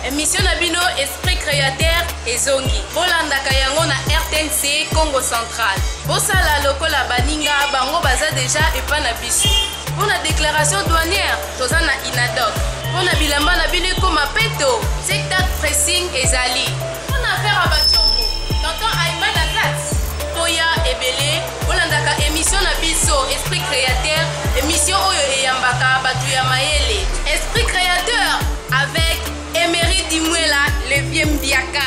emission na bino esprit créateur ezongi bolandaka yango na rtnc congo central bosala lokola baninga bango baza deja epa na biso mpo na déclaration douanière toza na inadoc mpo na bilamba na bino ekoma peto tiktak pressing ezali mpo na affaire ya bacongo tonton aiman azat toya ebele olandaka émission na biso esprit créateur émission oyo eyambaka bato ya mayele esprit créateur avec emery dimwela le vieux mbiaka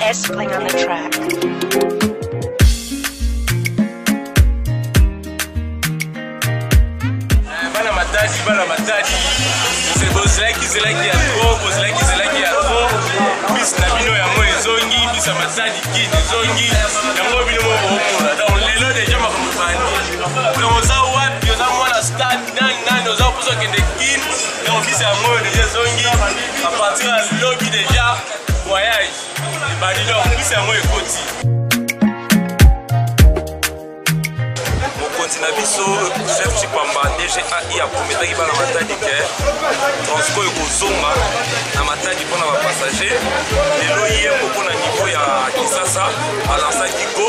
S playing on the track. bana matadi bana matadi Boze- bozelaki zelaki ya tro bozelaki zelaki ya tro bis na bino yango ezongi bis ya matadi kin ezongi yango bino moko bokomona donc lelo deja makambo ebandi donc oza wapi oza mwana stade nani nani oza mposa okende kin na ofisi yango oyo deja ezongi apartir ya lobi deja voyage ebandi donc ofisi yango ekoti mokonzi na biso chef chipamba dgai aprometaki bana matadi ke transco ekozonga na matadi mpo na bapassager lelo ye moko na niveau ya kisasa alansaki go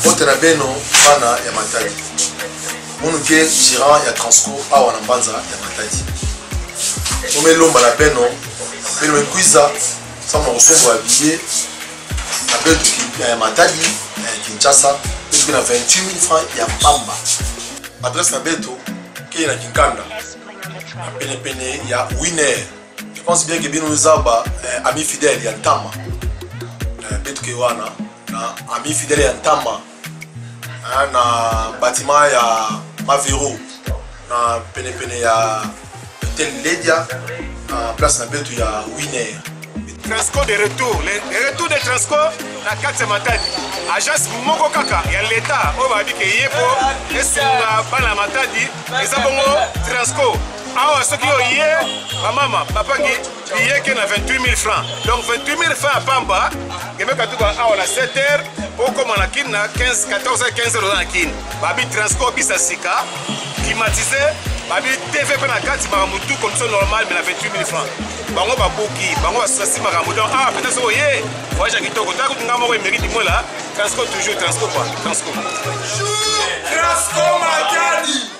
mbote na beno bana ya matadi monuke gérant ya transco awa na mbanza ya matadi tomelomba na beno beno ekwiza sama na kosombola biye na beto ya matadi ya kinshasa esoki na 28000 franc ya mpamba adresse na beto kei na kinkanda na penepene ya winer je pense bien que bino eza ba eh, ami fidèle ya ntama eh, mpe toke wana na ami fidèle ya ntama eh, na bâtiment ya mavero na penepene ya hotel ledia na place na betu ya winer transco de retour le retour de transco na kati ya matadi agence moko kaka ya leta oyo bayebi ke ye mpo esunga bana ya matadi eza bongo transco awa soki oye bamama bapangi biye ke na 28000 francs donc 28000 francs ya pamba kebeka tuka awa na 7 heure okoma na kini na 15 14 15 heure oza na kini babi transport bisa sika climatise babi tv mpe na kati makambo tu komso normal me na 28000 francs bango babuki bango basasi makambo donc awa mpenza soki oye voyage ya kitoko ta kutu ngai moko emeri dimola transco toujours transco pa transco transco matadi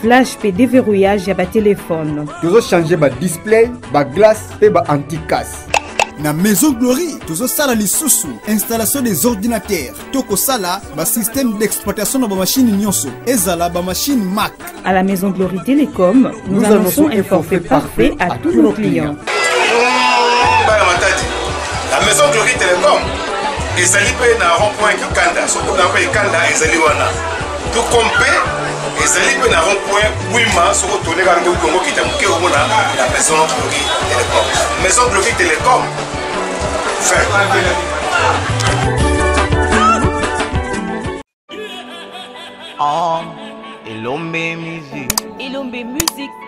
flash mpe deverrouillage ya batelefone tozochange badisplay baglace mpe baanticasse na maison glory tozosala lisusu installation des ordinateurs to kosala basystème d'exploitation na bamashine nyonso ezala bamashine mac à la maison glory télécom nous, nous annonçons un forfait parfait à tous nos clients bana matadi la maison glory télécom ezali mpe na rond point kikanda soki oza mpe ekanda ezali wana tout comme mpe ezali mpe na rond point wima soki otone kaka nde kongo kita moke omona la maison gloki telecom maison gloki telecom fin Ah, Elombe Music. Elombe Music.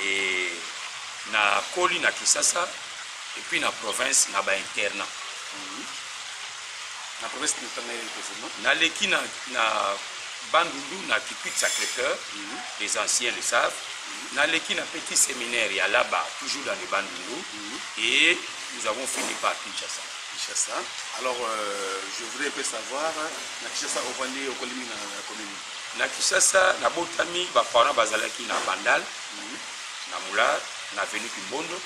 Et na koli na Kisasa et puis na province na ba internat. Na province na tanga yeli kozima. Na leki na na Bandundu na Kipit Sacré-Cœur, les anciens le savent. Na leki na petit séminaire ya Laba, toujours dans le Bandundu et nous avons fini par Kinshasa. Kinshasa. Alors euh, je voudrais un peu savoir na Kinshasa ovandi okolimi na commune. Na Kinshasa nabotami, ba parents bazalaki na Bandal na Moulard na avenue Kimbondo.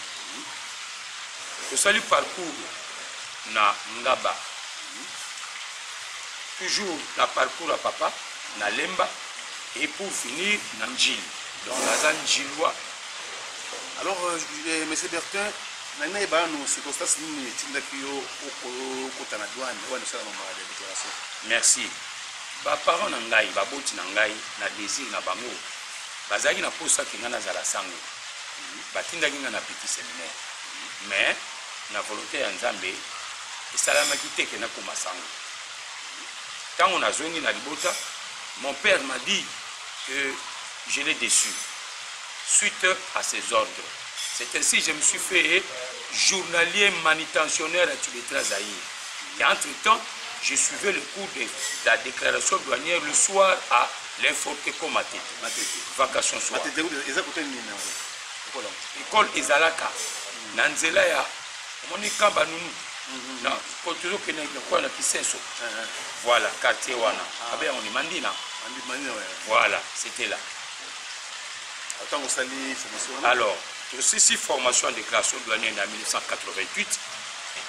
Tosali parcours na Ngaba, toujours na parcours ya papa na Lemba et pour finir na Ndjili. Donc naza Ndjilois. Alors, euh, euh, Monsieur Bertin, nani nayeba nanu circonstance nini etindaki yo okota na douane wana esalama mbala ya déclaration? Merci. Ba parents na ngai, baboti na ngai, na desir na bango, bazalaki na posa que ngai nazala sango. Batindaki ngai na petit seminaire. Mais, na volonte ya Nzambe, esalamaki te que nakoma sango. Tango nazongi na libota, mon père m'a dit que je l'ai déçu suite à ses ordres. C'est ainsi que je me suis fait journalier manutentionnaire à Tubetera Zaïre. Et entre-temps, je suivais le cours de la déclaration douanière le soir à l'inforteco Matete. Matete. Vacation soir. Matete, eza kote nini yango? École ezalaka na nzela ya omoni kamba nunu mhm. na tozo kende lokola na kisenso eh, eh. voilà quartier wana ah. abe yango ni mandina voilà c'était là ntango osali formation alors tosisi formation ya déclaration douanière na 1988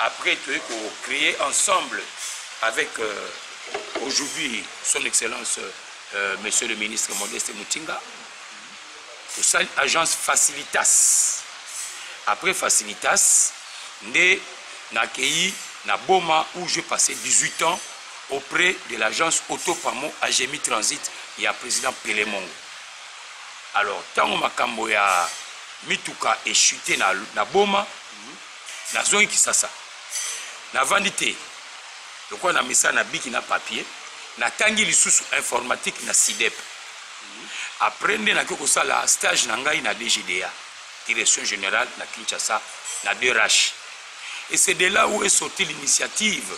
Après toye ko creer ensemble avec euh, aujourd'hui son excellence euh, monsieur le ministre Modeste Mutinga tosali agence facilitas après facilitas nde nakei na boma où je passé 18 ans auprès de l'agence autopamo agemi transit ya président pelemongo alors ntango makambo ya mituka echute na, na boma nazongi kisasa navandi te lokola na misala na biki na papier natangi lisusu informatique na sidep après nde nakoki kosala stage na ngai na dgda direction générale na kinshasa na 2 rache et c'est de là où est sorti l'initiative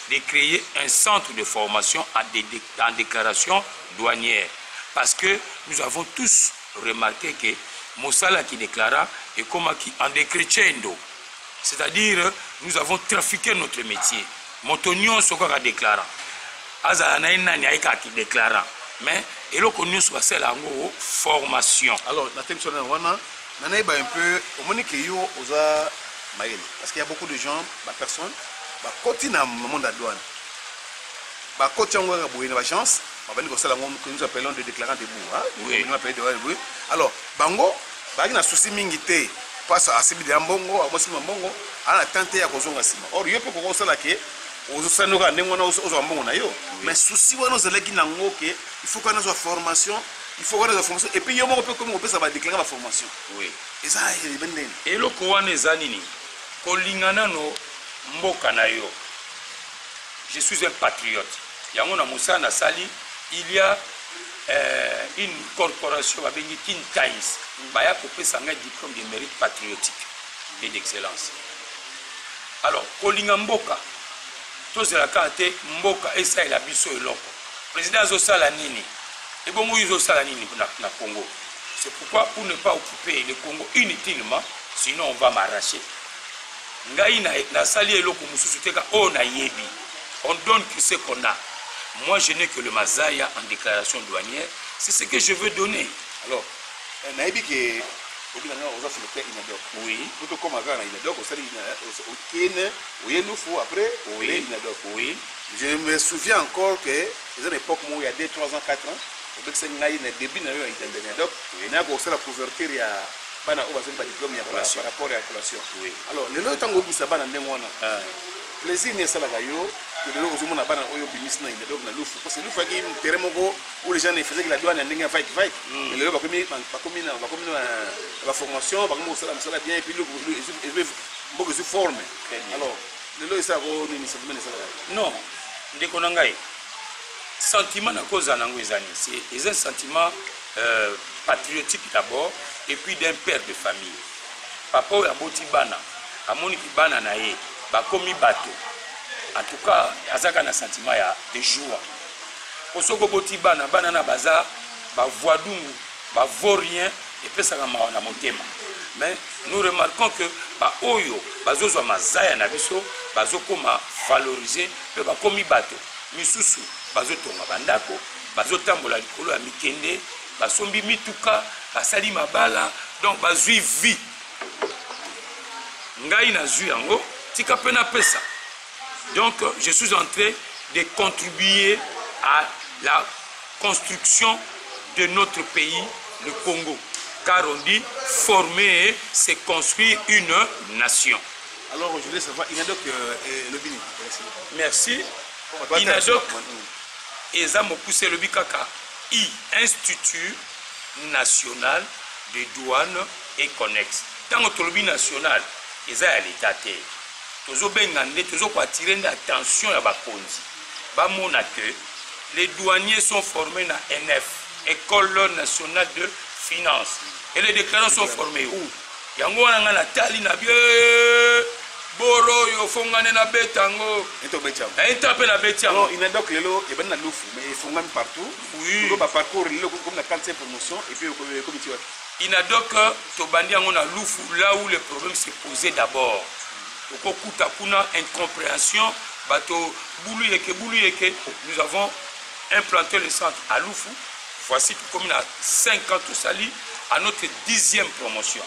de créer un centre de formation en, dé en déclaration douanière parce que nous avons tous remarquer que mosala ya ki declarant ekomaki en decrescendo c'est à dire nous avons trafiquer notre métier moto nyonso kaka declarant azala na ye nani aye kaka ki declarant mais eloko nyonso basala yango formation alors na temso na wana na nayeba un peu omoni ke yo oza mayele parce qu'il y a beaucoup de gens ba personnes bakoti na monde ya douane bakoti yango kaka boye na bagence babandi kosala yango que nous appelons de déclarant debout hein oui. nous appelons de debout alors bango bazalaki na souci mingi te pasa asimbi deya mbongo akosimba mbongo ana na temps te ya kozonga nsima or yo mpe kokoki osala ke ozosandoka ndenge wana ozwa mbongo na yo mais souci wana ozalaki na yango ke il faut kana azwa formation il faut kana azwa formation epuis yo moko mpe komi kopesa badeklare baformation eza ebe eh, ndeni eloko wana eza nini kolinga nano mboka na yo je suis un patriote Yango na mosala na sali il ya eh, une corporation babengi Kin Times baya kopesa ngai diplôme de mérite patriotique et d'excellence. Alors kolinga mboka tozela kaka te mboka esalela biso eloko président azosala nini ebongo yo ozosala nini na, na congo c'est pourquoi pour ne pas occuper le congo inutilement sinon on va m'arracher Ngai na nasali eloko mususu te ka oyo nayebi. On donne que ce qu'on a. Moi je n'ai que le mazaya en déclaration douanière, c'est ce que je veux donner. Alors, eh, nayebi que obina nga oza selecteur inadok oui poto koma kaka na inadok osali okene oye lufu après oye inadok oui je me souviens encore que eza na époque moko ya 2 3 ans 4 ans obekisaki ngai na début na yo ya inadok nakosala couverture ya Bana oyo bazali ba diplome ya par rapport ya collation. Alors lelo yo tango obimisa bana ndenge wana. Plaisir nini esalaka yo que lelo ozomona bana oyo obimisi na Indedoc na Lufu parce que Lufu yaki terrain moko où les gens ne faisaient que la douane ya ndenge ya vague vague. Hmm. Mais lelo bakomi bakomi na bakomi na ba formation bakomi kosala mosala bien et puis Lufu mboka ezwi forme. Alors lelo esalaka oyo nini sentiment esalaka? Non ndeko na ngai sentiment nakozala nango eza nini? C'est un sentiment euh, patriotique d'abord et puis d'un père de famille papa oyo aboti bana amoni ki bana na ye bakomi bato en tout cas azaka na sentiment ya de joie po soki oboti bana bana na baza bavoidungu bavaut rien epesaka mawa na motema mais nous remarquons que baoyo bazozwa mazaya na biso bazokoma valoriser mpe bakomi bato misusu bazotonga bandako bazotambola likolo ya mikende basombi mituka basali mabala donc bazwi vie ngai nazwi yango tika mpe napesa donc je suis en train de contribuer à la construction de notre pays le congo car on dit former c'est construire une nation alors je voulais savoir inadoc euh, lobini merci inadoc Eza mokuse elobi kaka I, Institut national de douane et connexe. Tango tolobi national eza ya l'etat te. Tozo benga nde, tozo ko attirer nde attention ya bakonzi ba mona que les douaniers sont formes na ENF, Ecole nationale de finance. Et les declarants sont formes où? yango wana ngai natali na bie boro oyo fongane nabeta yango nainta mpe nabeti yango inadoc lelo ebandi na lufu mais efongami partout oui. baparcours lelo ekomi na 45 promotion epuis ekomi ti wapi inadoc tobandi yango na lufu là où le problème se posé d'abord okokuta kuna incompréhension bato bulu yeke bulu yeke nous avons implanté le centre à lufu Voici tokomi na 5 ans tosali à notre dixième promotion.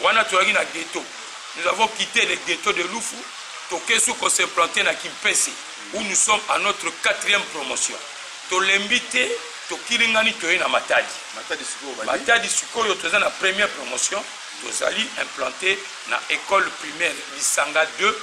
Wana toyaki na ghetto. Nous avons quitté le ghetto de Lufu, toke sous qu'on s'est planté na Kimpese où nous sommes à notre quatrième promotion. Tolembi te, tokilingani toye na Matadi. Matadi sikoyo bandi. Matadi sikoyo toza na première promotion, tozali implanté na école primaire Lisanga 2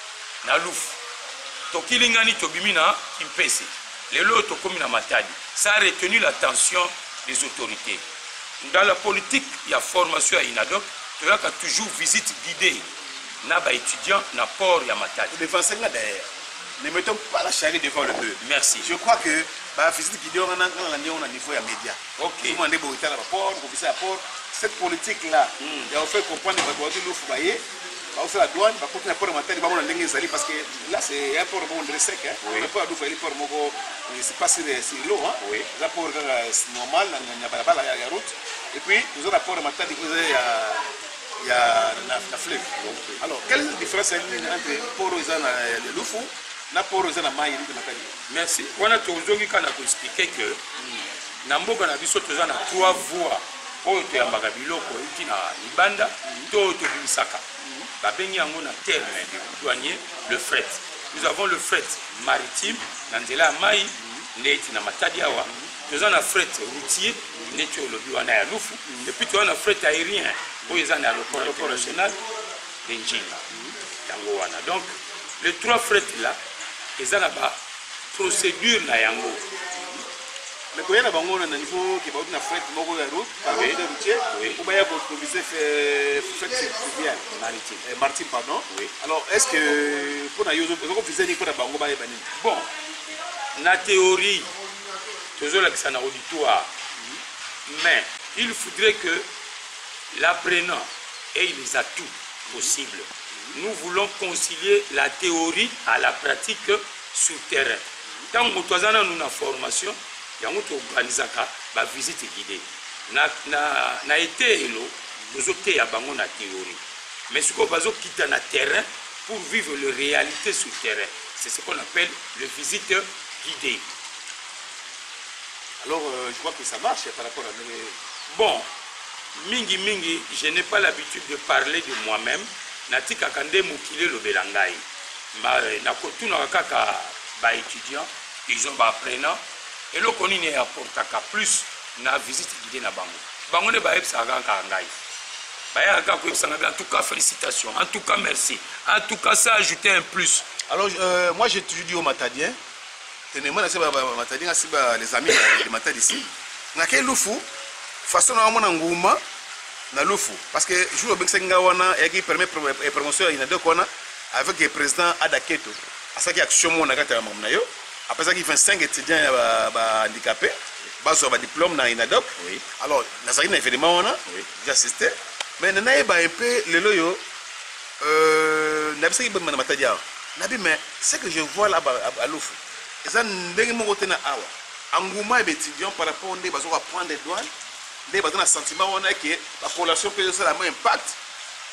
na lufu tokilingani tobimi na kimpese lelo oyo tokomi na matadi ça a retenu la tension des autorités dans la politique ya formation ya inadop toyaka toujours visite guidée na baétudiant na port ya matadi devanse nga derrière ne mettons pas la charrie devant le bœuf merci je crois que bavisite guidée wana nga nalandi yango na niveau ya média okay. omona nde boyotala baport kobisa ya port cette politique là mm. ya ofaire comprendre bato batu lufu baye bakosala douane bakoti na port ya matadi bamona ndenge ezali parce que là c'est un port moko ndire sec mais port ya dufa eli port moko c'est pas sur l'eau eza port kaka normal na balabala ya route et puis toza na port ya matadi oyo eza ya ya na, na fleuve okay. alors quelle est la différence ya nini entre port oyo eza na lufu na port oyo eza na mai elite matadi merci wana tozongi kaka na koexplike que mm. na mboka na biso toza na trois voies oyo toyambaka biloko euti na libanda to oyo tobimisaka babengi yango na terme de douanier le fret nous avons le fret maritime na nzela ya mai nde eti na matadi awa toza na fret routier ndeti oyo olobi wana ya lufu epuis toza na fret aérien oyo eza na aéroport international de njinga yango wana donc le trois fret là eza na ba procédure na yango mais koya na bango wana na niveau ke bauti na fret moko ya route par oui. de routier oui. ou baya ko improviser fret fluvial maritime eh, maritime pardon oui. alors est ce que mpo na yo ozoko vise nini mpo na bango bayeba nini bon na théorie tozolakisa na auditoire mais il faudrait que l'apprenant ait les atouts possibles nous voulons concilier la théorie à la pratique sur terrain ntango moto aza nanu na formation yango toorganisaka bavisite guide na, na, na eteyelo tozoteya bango na théorie mais sikoyo bazokita na terrain pour vivre le réalité sur terrain c'est ce qu'on appelle le visite guidé alors euh, je vois que ça marche par rapport à mes... bon mingi mingi je n'ai pas l'habitude de parler de moi-même natikaka nde mokili elobela ngai nakotunaka kaka ba étudiants ils ont ba apprenants eloko nini e apportaka plus na visite guidée na bango bango nde bayebisaka kaka ngai bayaka kaka koyebisa ngai en tout cas félicitations en tout cas merci en tout cas ça ajouter un plus alors euh, moi j'ai toujours dit au matadien Tenema na se ba matadi nga si ba les amis de matadi si na ke lufu façon na mona nguma na lufu parce que jour obekisaki nga wana yaki premier promotion ya inadok wana avec le président Adaketo asaki action mona kati ya makambo na yo apesaki 25 étudiants ya bahandicapé bazwa badiplôme na inadok oui. alors nazalaki na événement wana oui. j'assiste mais nayeba un peu lelo oyo Euh, nabisaki bemba na matadi awa nabi mais ce que je vois là à lufu eza ndenge moko te na awa engouement ya baétudiant par rapport nde bazoka prendre douane nde baza na sentiment wana ke bacollation mpe ezosala mo impact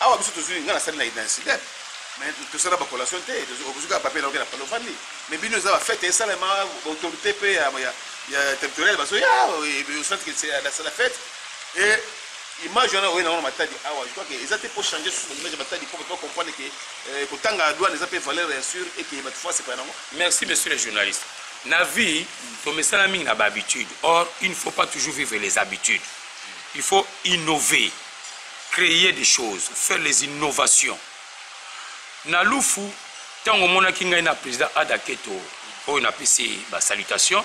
awa biso tozwi ngai nasali na identidep mais tosala bacollation te okozwi kaka papier naoke na palo ofandi mais bino eza bafete esalema autorité mpe ya territoriale bazoya osantike nasala fete e Image wana oye na wana matadi awa je crois que eza te po changer sous image ya matadi po to comprendre que euh, kotanga douane eza pe valeur ya sûr et que batu fasi pa nango. Merci monsieur le journaliste. Na vie to mesana mingi na ba habitudes. Or il ne faut pas toujours vivre les habitudes. Il faut innover, créer des choses, faire les innovations. Na lufu tango monaki ngai na président Adaketo oyo napesi ba salutations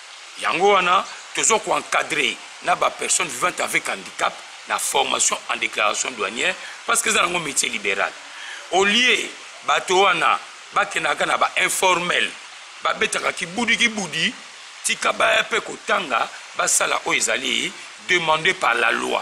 Yango wana tozo ko encadrer na ba personnes vivantes avec handicap na formation en déclaration douanière parce que eza nango métier libéral. Au lieu bato wana bakendaka na ba informel babetaka kibudi kibudi tika baya pe kotanga basala oyo ezali demande par la loi.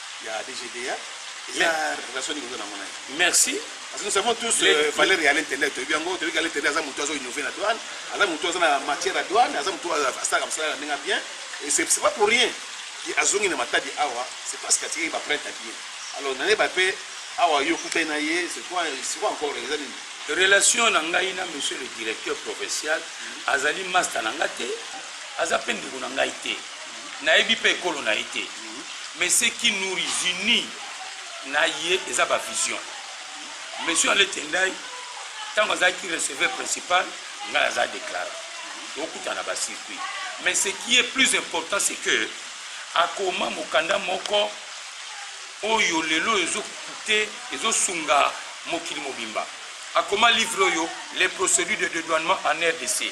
ya DGDA relation nini oza nango na ye merci parce que nous savons tous euh, valeur ya l'intendant toyebi yango toyebi ka l'intendant aza motu azo innove na douane aza motu aza na matière ya douane aza motu asalaka mosala na ndenge bien et c'est pas pour rien ye azongi na matadi awa c'est parce que atikaki baprinte ya bien alors naneba mpe awa yo okutani na ye c'est quoi encore eza nini relation na ngai na monsieur le directeur provincial azali masta na ngai te aza mpe ndeko na ngai te nayebi mpe ekolo na ye te mais ce qui nous unis na ye eza bavision monsieur alete ndai ntango azalaki receveur principal ngai aza déclaré tokutana na bacircuit mais ce qui est plus important c'est que akoma mokanda moko oyo lelo ezokute ezosunga mokili mobimba akoma livre oyo les procédures de dédouanement en rdc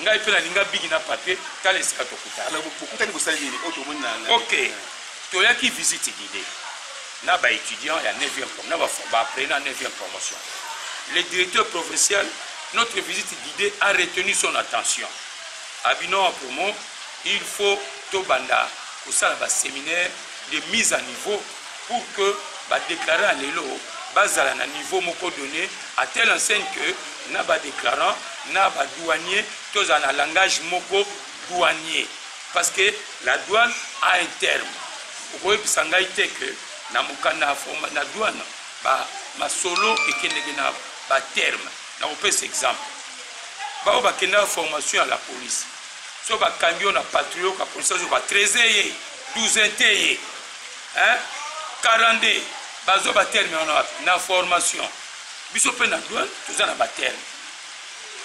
ngai mpe nalinga bigi na papier tala esika tokutana bokutani bosali nini oyo tomoni na ok toyaki visite guide na baétudiant ya 9e na baapprenant ya 9e promotion le directeur provincial notre visite guidée a retenu son attention abino ah, promo il faut tobanda kosala baséminaire de mise à niveau pour que ba declarants ya lelo bazala na niveau moko donne à telle enseigne que na ba declarants na ba douaniers tozala na langage moko douanier parce que la douane a un terme okoyebisa ngai te que na mokanda na douane ba masolo ekendeke na ba terme na kopesa exemple baoyo bakendaka formation ya la police so bakangi yo na patrouille oka police azoba 13 ye 12 te ye hein 42 bazwa ba terme wana wapi na formation biso mpe na douane toza na ba terme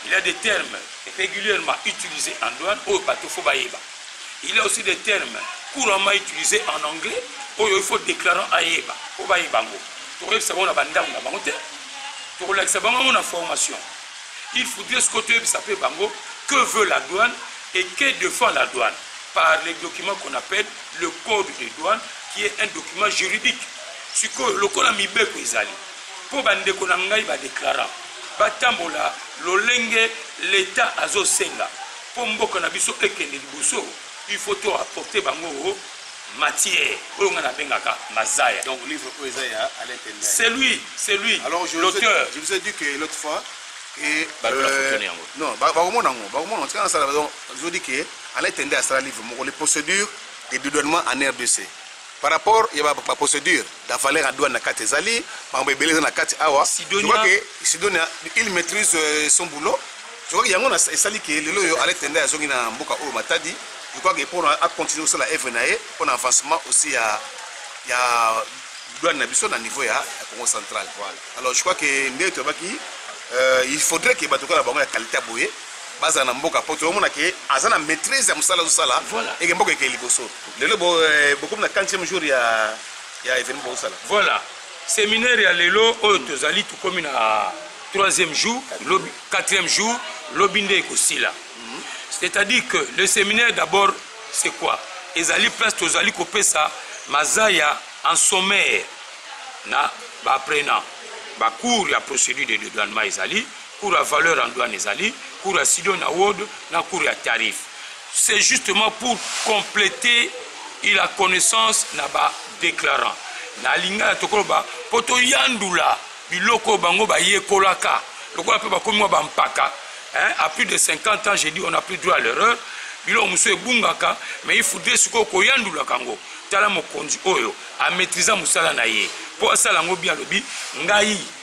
il y a des termes régulièrement utilisés en douane oyo bato fo bayeba il y a aussi des termes couramment utilisés en anglais oyo il faut déclarant ayeba mpo bayeba yango tokoyebisa bango na bandako na bango te tokolakisa bango yango na formation il faudrait sikoyo toyebisa mpe bango que veut la douane et que défend la douane par les documents qu'on appelle le code de douane qui est un document juridique sikoyo lokola mibeko ezali mpo bandeko na ngai badeklara batambola lolenge leta azosenga mpo mboka na biso ekende liboso il faut to apporte bango matière oyo ngai nabengaka mazaya donc livre oyo eza ya c'est lui c'est lui l'auteur je vous ai dit que l'autre fois et euh, non bakomona yango bakomona yango tika nasala Ils ont dit que Alain Tende asala livre moko les procédures de dédouanement en RDC. Par rapport ya ba, ba procédure la valeur à douane na kati ezali makambo ebele eza na kati awa. Sidonia. Je crois que Sidonia il maîtrise euh, son boulot. Je crois que yango na esali que lelo yo Alain Tende azongi na mboka oyo Matadi. Je crois que pour a continuer aussi la œuvre na ye pour avancement aussi ya ya douane na biso na niveau ya, ya Congo central. Voilà. Alors je crois que nde tobaki euh, il faudrait que bato kala bango ya qualité boye bazala na mboka po tozomona ke aza na maîtrise ya mosala azosala eke mboka ekei liboso lelo eh, bokomi na 40 jour ya ya événement bozosala voilà séminaire ya lelo oyo tozali tokomi na troisième jour lobi quatrième jour lobi nde ekosila mhm. c'est-à-dire que le séminaire d'abord c'est quoi ezali place tozali kopesa mazaya en sommaire na baapprenant bacours ya procédure de dédouanement ezali Cours ya valeur en douane ezali, cours ya Sidon na Word na cours ya tarif. C'est justement pour compléter la connaissance na ba déclarants. Na lingala tokoloba po toyandula biloko bango bayekolaka lokola mpe bakomi mwa bampaka à plus de 50 ans j'ai dit on n'a plus droit à l'erreur biloko mosusu ebungaka mais il faudrait sikoyo koyandulaka yango tala mokonzi oyo amaîtrisa mosala na ye mpo asala yango bien alobi ngai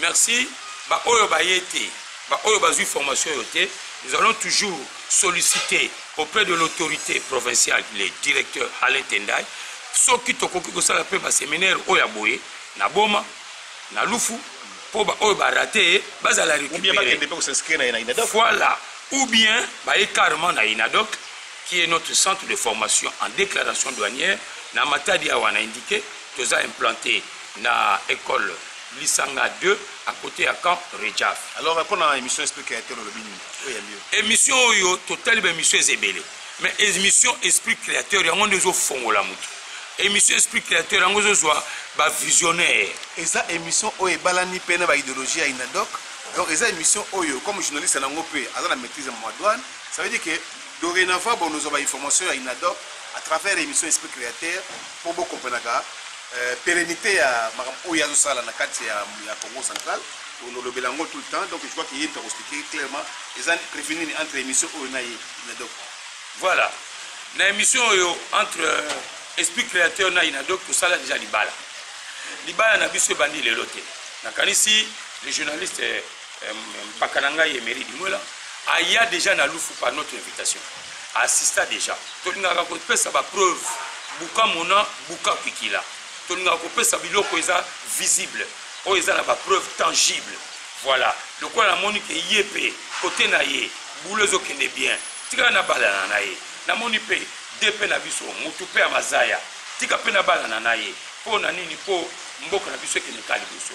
Merci ba oyo baye te ba oyo bazui formation oyo te nous allons toujours solliciter auprès de l'autorité provinciale le directeur Alain Tendai soki tokoki kosala mpe baseminaire oyo ya boye na Boma na Lufu mpo baoyo barate bazala récupéré voilà ou bien baye carrément na inadoc qui est notre centre de formation en déclaration douanière na matadi awa na indiqué toza implanté na école Lisanga de à côté ya camp Rejaf. Alors euh, pona émission esprit créateur olobi nini? Oyo yambi yo. Émission oyo totali ba émission ezebele. Mais émission esprit créateur yango nde ezo fongola mutu. Émission esprit créateur yango ezo zwa ba visionnaire. Eza émission oyo ebalani pe na ba idéologie ya Inadoc. Donc eza émission oyo comme journaliste nango pe aza na maîtrise ya mwa douane. Ça veut dire que dorénavant bonozwa ba information ya Inadoc à travers émission esprit créateur po bokomprenaka euh, perennite ya makambo oyo azo sala na kati ya, ya Congo central olobela yango tout le temps donc je crois que ye moto akoexplike clairement eza prévu nini entre émission oyo na ye donc voilà na émission oyo entre euh, esprit créateur na inadoc tosala deja libala libala na biso ebandi lelo te nakanisi le journaliste euh, mpaka na ngai emery dimwela aya deja na lufu par notre invitation assista deja tolingaka kopesa bapreuve buka mona buka kwikila tolingaka kopesa biloko eza visible oyo eza na bapreuve tangible voilà lokola namoni ke ye mpe kote na ye bulo ezokende bien tikala na balana na ye namoni mpe de mpe na biso motu mpe ya mazaya tika mpe na balana na ye mpo na nini mpo mboka na biso ekende ka liboso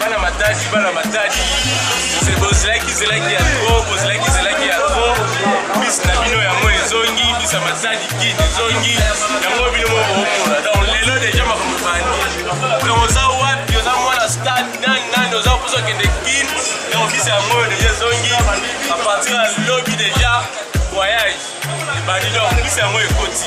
bana matadi bana matadi bozalaki zelaki ya tro bozalaki zelaki ya tro bis na bino yango ezongi bis ya matadi kid ezongi yango bino moko omona donc lelo deja makambo ebandi donc oza wapi oza mwana stade nani nani oza mposa okende kin donc bis yango deja ezongi a partir ya lobi deja voyage ebandi donc bis yango ekoti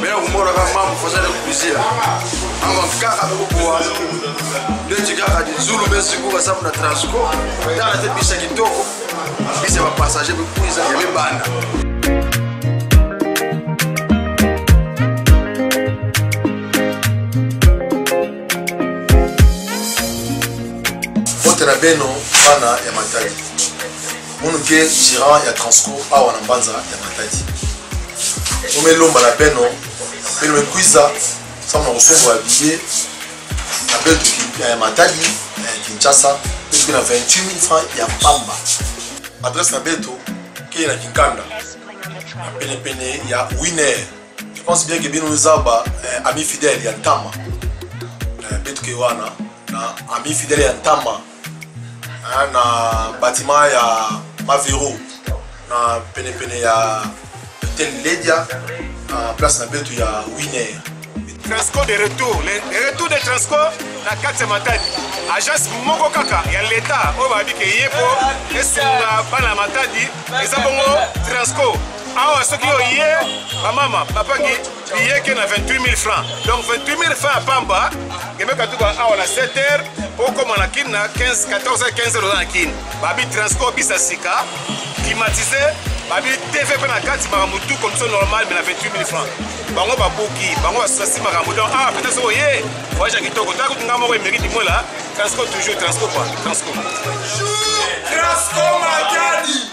Bena kumora ka mamu fosa de kubizia. Anga kaka kukuwa. Ndeti kaka di zulu besi kuka sabu na transco. Dala te bisa kitoko. Bisa ba passager bi kuiza ya mi banda. Botela beno bana ya matali. munu ke gérant ya transco awa na mbanza ya matadi omelomba na beno beno mekwiza sama na kosombola biye na betu ya matadi ya kinshasa esuki na 28000 franc ya mpamba adresse na beto kei na kinkanda na penepene ya winer je pense bien ke bino eza ba eh, ami fidèle ya ntama eh, betuke wana na ami fidèle ya ntama hein, na bâtiment ya mavero na penepene ya hotel ledia na place na betu ya winer transco de retour le retour de transco na kati ya matadi agence moko kaka ya leta oyo babi ke ye mpo esunga bana ya matadi eza bongo transco awa soki oye bamama bapangi billet ke na 28000 francs donc 28000 francs ya pamba emeka tuka awa na 7 heures okoma na kin na 15 14 15 heures oza na kin babi transport bisa sika climatise babi tv mpe na kati makambo tu condition normale me na 28000 francs bango babuki bango basasi makambo donc awa pete soko ye voyage ya kitoko taka kutu nga moko emeki dimwela transco toujours transco pa transco transco matadi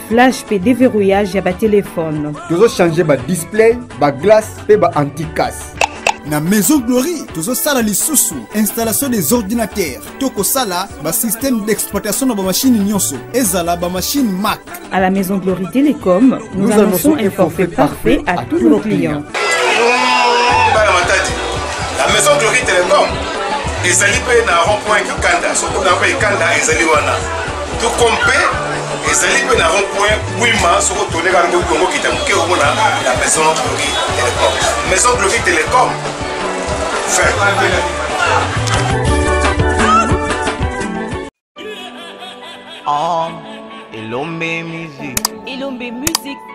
flash mpe deverrouillage ya batelefone tozochange badisplay baglace mpe baanticasse na maison glory tozosala lisusu installation des ordinateurs to kosala basystème d'exploitation na bamashine nyonso ezala bamashine mac à la maison glory télécom nous, nous annonçons un forfait parfait à tous nos clients bana matadi la maison glory télécom ezali mpe na rond point kikanda soki oza mpe ekanda ezali wana tout comme mpe ezali mpe na rond point bwima soko tone kaka ndoki yango kita moke omona la maison gloki telecom maison gloki telecom fin Ah, Elombe Music. Elombe Music.